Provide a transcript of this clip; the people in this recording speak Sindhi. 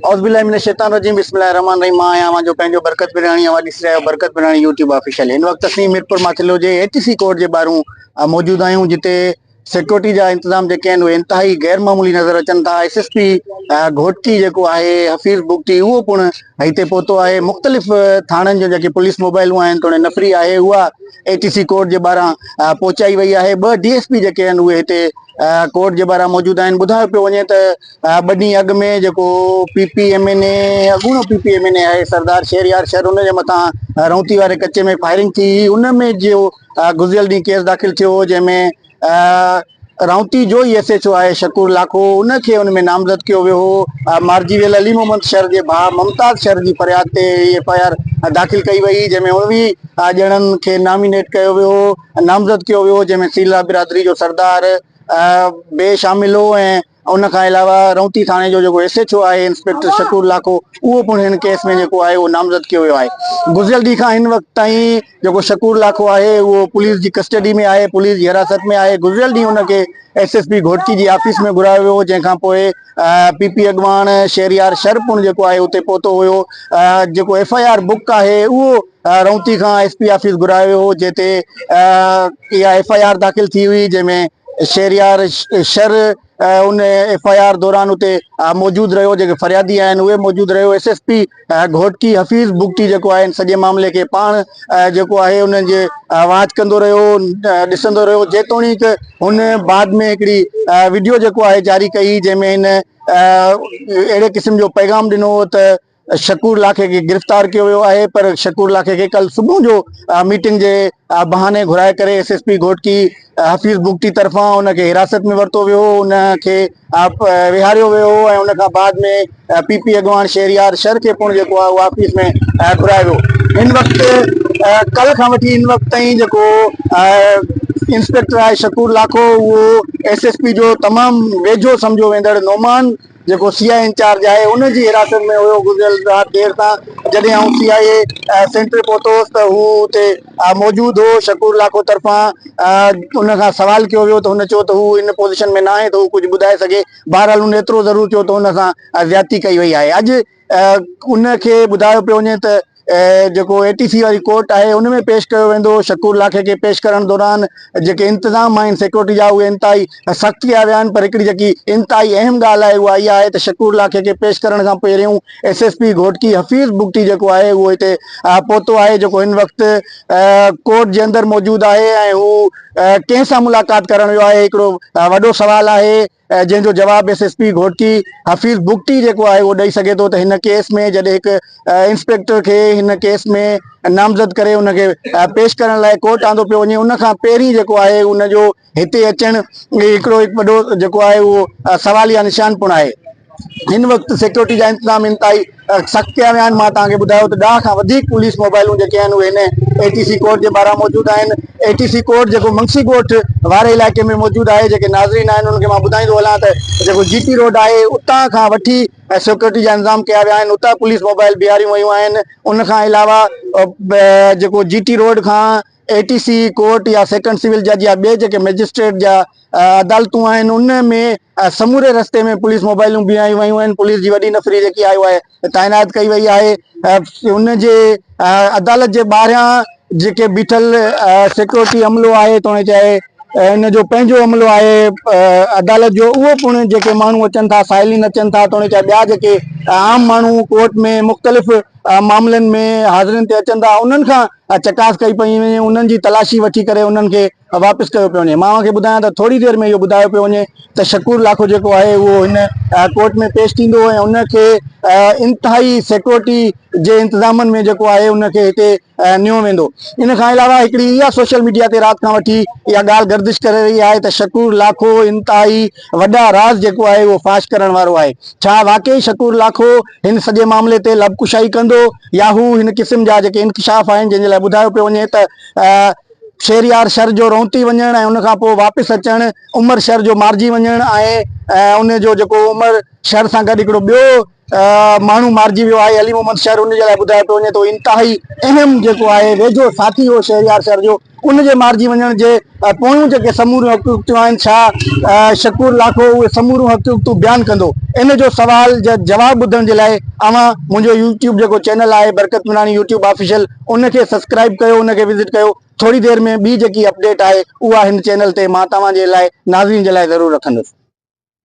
اعوذ بالله من الشيطان الرجيم بسم الله الرحمن الرحيم مان آهيان اوهان جو پنهنجو برڪت پراڻي اوهان ڏسي رهيا آهيو برڪت پراڻي يوٽيوب آفيشل هن وقت اسين ميرپور ماٿيلو جي ايچ سي ڪورٽ جي ٻاهرون موجود آهيون جتي سيڪيورٽي جا انتظام جيڪي آهن اهي انتهائي غير معمولي نظر اچن ٿا ايس ايس پي گهوٽڪي جيڪو آهي حفيظ بگٽي اهو پڻ هتي پهتو آهي مختلف ٿاڻن جون جيڪي پوليس موبائلون آهن توڙي نفري آهي اها ايچ سي ڪورٽ جي ٻاهران پهچائي وئي آهي ٻه ڊي ايس پي جيڪي آهن اهي هتي ڪورٽ جي ٻاهران موجود آهن ٻڌايو پيو وڃي ته ٻه ڏينهن اڳ ۾ جيڪو P P M N A اڳوڻو P P M N A آهي سردار شهريار شر ان جي مٿان رونتي واري ڪچي ۾ فائرنگ ٿي هئي ان ۾ جو گذريل ڏينهن ڪيس داخل ٿيو هو جنهن ۾ رونتي جو ئي ايس ايچ او آهي شڪور لاکو ان کي ان ۾ نامزد ڪيو ويو هو مارجي ويل علي محمد شر جي ڀاء ممتاز شر جي فرياد تي هي ايف آء آر داخل ڪئي وئي جنهن ۾ اڻويهه ڄڻن کي نامينيٽ ڪيو ويو هو نامزد ڪيو ويو هو جنهن ۾ سيلا برادري جو سردار به شامل هو ۽ ان کان علاوه رئونتي ٿاڻي جو جيڪو ايس ايڇ او آهي انسپيڪٽر شڪور لاکو اهو پڻ هن ڪيس ۾ جيڪو آهي اهو نامزد ڪيو ويو آهي گذريل ڏينهن کان هن وقت تائين جيڪو شڪور لاکو آهي اهو پوليس جي ڪسٽڊي ۾ آهي پوليس جي حراست ۾ آهي گذريل ڏينهن ان کي ايس ايس پي گهوٽڪي جي آفيس ۾ گهرايو ويو جنهن کان پوء پي پي اڳواڻ شهريار شر پڻ جيڪو آهي اتي پهتو هيو جيڪو ايف آء آر بڪ آهي اهو رئونتي کان ايس پي آفيس گهرايو ويو هو جنهن تي اها ايف آء آر داخل ٿي هئي جنهن ۾ شهريار شر ان ايف آء آر دوران اتي موجود رهيو جيڪي فريادي آهن اهي موجود رهيو S S P Ghotki Hafeez Bugti جيڪو آهي ان سڄي معاملي کي پاڻ جيڪو آهي انهن جي واچ ڪندو رهيو ڏسندو رهيو جيتوڻيڪ هن بعد ۾ هڪڙي ويڊيو جيڪو آهي جاري ڪئي جنهن ۾ هن اهڙي قسم جو پيغام ڏنو هو ته شڪور لاکي کي گرفتار ڪيو ويو آهي پر شڪور لاکي کي ڪلهه صبح جو ميٽنگ جي بهاني گهرائي ڪري S S P Ghotki Hafeez Bugti طرفان ان کي حراست ۾ ورتو ويو هو ان کي ويهاريو ويو هو ۽ ان کان بعد ۾ پي پي اڳواڻ شهريار شر کي پڻ جيڪو آهي اهو آفيس ۾ گهرايو ويو هن وقت ڪلهه کان وٺي هن وقت تائين جيڪو انسپيڪٽر آهي شڪور لاکو اهو ايس ايس پي جو تمام ويجهو سمجهيو ويندڙ نومان جيڪو سي آء اي انچارج آهي ان جي حراست ۾ هيو، گذريل رات دير سان جڏهن آئون سي آء اي سينٽر پهتو هوس ته هو اتي موجود هو، شڪور لاکو طرفان ان کان سوال ڪيو ويو ته هن چيو ته هو ان پوزيشن ۾ ناهي ته هو ڪجهه ٻڌائي سگهي، بهرحال هن ايترو ضرور چيو ته هن سان زيادتي ڪئي وئي آهي اڄ. ان کي ٻڌايو پيو وڃي ته جيڪو اي ٽي سي واري ڪورٽ آهي ان ۾ پيش ڪيو ويندو، شڪور لاکي کي پيش ڪرڻ دوران جيڪي انتظام آهن سيڪيورٽي جا اهي انتهائي سخت ڪيا ويا آهن پر هڪڙي جيڪي انتهائي اهم ڳالهه آهي اها اها آهي ته شڪور لاکي کي پيش ڪرڻ کان پهريون S S P Ghotki Hafeez Bugti جيڪو آهي اهو هتي پهتو آهي جيڪو هن وقت ڪورٽ جي اندر موجود آهي ۽ هو ڪنهن سان ملاقات ڪرڻ ويو آهي هڪڙو وڏو سوال آهي. جنهن جو جواب S S P Ghotki Hafeez Bugti جيڪو آهي اهو ڏئي سگهي ٿو ته هن ڪيس ۾ جڏهن هڪ انسپيڪٽر کي هن ڪيس ۾ نامزد ڪري ان کي پيش ڪرڻ لاء ڪورٽ آندو پيو وڃي ان کان پهرين جيڪو آهي ان جو هتي اچڻ هڪڙو هڪ وڏو جيڪو آهي اهو سواليا نشان پڻ آهي هن وقت سيڪيورٽي جا انتظام انتهائي سخت ڪيا ويا آهن مان توهان کي ٻڌايو ته ڏهه کان وڌيڪ پوليس موبائلون جيڪي آهن اهي هن اي ٽي سي ڪورٽ جي ٻاهران موجود آهن اي ٽي سي ڪورٽ جيڪو منگسي ڳوٺ واري علائقي ۾ موجود آهي جيڪي ناظرين آهن انهن کي مان ٻڌائيندو هلان ته جيڪو جي ٽي روڊ آهي اتان کان وٺي ۽ سيڪيورٽي جا انتظام ڪيا ويا آهن اتان پوليس موبائل بيهاريون ويون آهن ان کان علاوه جيڪو جي ٽي روڊ کان اي ٽي سي ڪورٽ يا سيڪنڊ سول جج يا ٻي جيڪي مئجسٽريٽ جا عدالتون آهن ان ۾ سموري رستي ۾ پوليس موبائلون بيهايون ويون آهن پوليس جي وڏي نفري جيڪي آيو آهي تعينات ڪئي وئي آهي ان جي عدالت جي ٻاهريان جيڪي بيٺل سيڪيورٽي عملو آهي توڻي چاهي ان جو پنهنجو عملو آهي عدالت جو اهو پڻ جيڪي ماڻهو اچن ٿا سائلين اچن ٿا توڻي چاهي ٻيا جيڪي عام ماڻهو ڪورٽ ۾ مختلف معاملن ۾ حاضرين تي اچن ٿا انهن کان ۽ چڪاس ڪئي پئي وڃي ۽ انهن جي تلاشي وٺي ڪري انهن کي واپس ڪيو پيو وڃي مان اوهان کي ٻڌايان ته ٿوري دير ۾ اهو ٻڌايو پيو وڃي ته شڪور لاکو جيڪو آهي اهو هن ڪورٽ ۾ پيش ٿيندو ۽ ان کي انتهائي سيڪورٽي جي انتظامن ۾ جيڪو آهي ان کي هتي نيو ويندو ان کان علاوه هڪڙي اها سوشل ميڊيا تي رات کان وٺي اها ڳالهه گردش ڪري رهي آهي ته شڪور لاکو انتهائي وڏا راز جيڪو آهي اهو فاش ڪرڻ وارو آهي ڇا واقعي شڪور لاکو هن سڄي معاملي تي لب ڪشائي ڪندو يا هو هن قسم جا جيڪي انڪشاف آهن جن جي لاء ٻڌايو پيو وڃي ته شهريار شر جو رونتي وڃڻ ۽ ان کان پوء واپس اچڻ، عمر شر جو مارجي وڃڻ ۽ ان جو جيڪو عمر شر سان گڏ هڪڙو ٻيو ماڻهو مارجي ويو آهي علي محمد شر ان جي لاء ٻڌايو پيو وڃي ته انتهائي اهم جيڪو آهي ويجهو ساٿي هو شهريار شر جو. ان جي مارجي وڃڻ جي پويون جيڪي سموريون حقيقتون آهن ڇا شڪور لاکو اهي سموريون حقيقتون بيان ڪندو؟ ان جو سوال جا جواب ٻڌڻ جي لاء اوهان منهنجو يوٽيوب جيڪو چينل آهي برڪت ميراڻي يوٽيوب آفيشل ان کي سبسڪرائيب ڪيو ان کي وزٽ ڪيو ٿوري دير ۾ ٻي جيڪي اپڊيٽ آهي اها هن چينل تي مان توهان جي لاء ناظرين جي لاء ضرور رکندس.